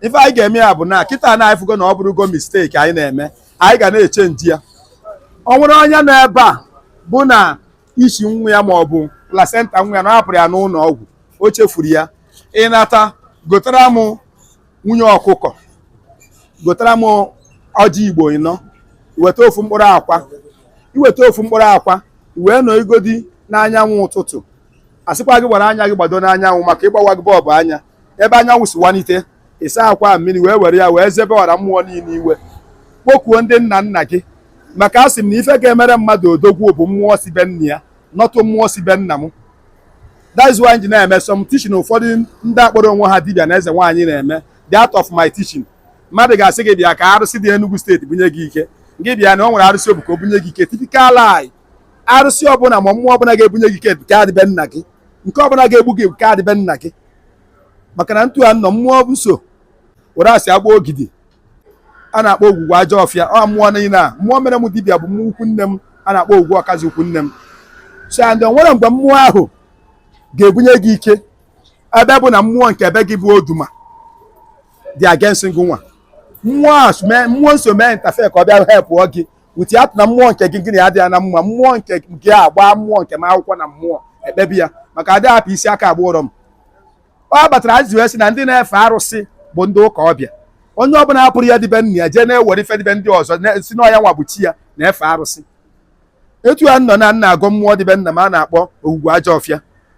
ife anyị ga-eme ya bụ na kịta na anyị fụgo na ọ bụrụgo misteki anyị na-eme anyị ga na-echenji ya ọ nwere onye nọ ebe a bụ na isi nwa ya ma ọ bụ placenta nwa ya na a hapụrụ ya n'ụlọ ọgwụ o chefuru ya ị nata gotara m nwunye ọkụkọ gotara m ọjị igbo ịnọ weta ofu mkpụrụ akwa i weta ofu mkpụrụ akwa wee nọ igodi n'anyanwụ ụtụtụ a sịkwa gị were anya gị gbado n'anyanwụ maka ịgbawa gị bọọbụ anya ebe anyanwụ si wanite ị saa akwa mmiri wee were ya wee zebe ọra mmụọ niile i wee kpokuo ndị nna nna gị maka a sị m na ife ga-emere mmadụ odogwu bụ mmụọ si be nna ya not mmụọ si be nna m that's why m ji na-eme some teaching ụfọdụ ndị kpọrọ onwe ha dibịa na eze nwaanyị na-eme the out of my teaching mmadụ ga-asị gị bịa ka arụsị dị Enugu steeti bunye gị ike gị bịa na o nwere arụsị o bu ka o bunye gị ike typical lie arụsị ọbụla ma mmụọ ọbụla ga-ebunye gị ike bụ nke dị be nna gị nke ọbụla ga-egbu gị nke dị be nna gị maka na etu a nọ mmụọ nso were asị agba ogidi a na-akpọ ogwugwu ajọ ọfịa ọ mmụọ niile a mmụọ mere m dibịa bụ mmụọ ikwu nne m a na-akpọ ogwugwu ọkazi ikwu nne m so and o nwere mgbe mmụọ ahụ ga-ebunye gị ike ebe bụ na mmụọ nke ebe gị bụ oduma dị against gị nwa mmụọ nso mee interfere ka ọ bịa hepụọ gị without na mmụọ nke gị gị na ya adịghị na mma mmụọ nke gị agbaa mmụọ nke m akwụkwọ na mmụọ ekpebie ya maka adị ahapụ isi aka agba ụrịọm ọ kpatara e ji wee sị na ndị na-efe arụsị bụ ndị ụka ọbịa onye ọbụla hapụrụ ihe dị be nna ya jee na-ewere ife dị be ndị ọzọ sị na ọ ya nwa bụ chi ya na-efe arụsị etu a nọ na m na-agọ mmụọ dị be nna m a na-akpọ ogwugwu ajọ ọfịa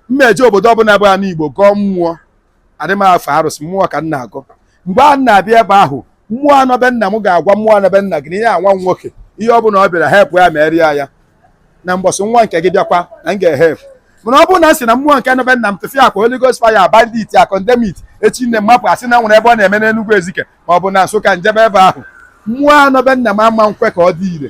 m ma eje obodo ọbụla bụ anị igbo gọọ mmụọ adị m efe arụsị mmụọ ka m na-agọ mgbe m na-abịa ebe ahụ mmụọ nọ be nna m ga-agwa mmụọ nọ be nna gị na ihe a nwa m nwoke ihe ọ bụla ọ bịara hepụ ya meere ya ya na mbọsị nwa nke gị bịakwa na m ga-ehepụ mana ọ bụrụ na m sị na mmụọ nke nọ be nna m tụfịakwa Holy Ghost fire bind it I condemn it echi niine m mapụ a sị na o nwere ebe ọ na-eme n'Enugwu Ezike ma ọ bụ na Nsụka m jebe ebe ahụ mmụọ nọ be nna m ama nkwe ka ọ dị ire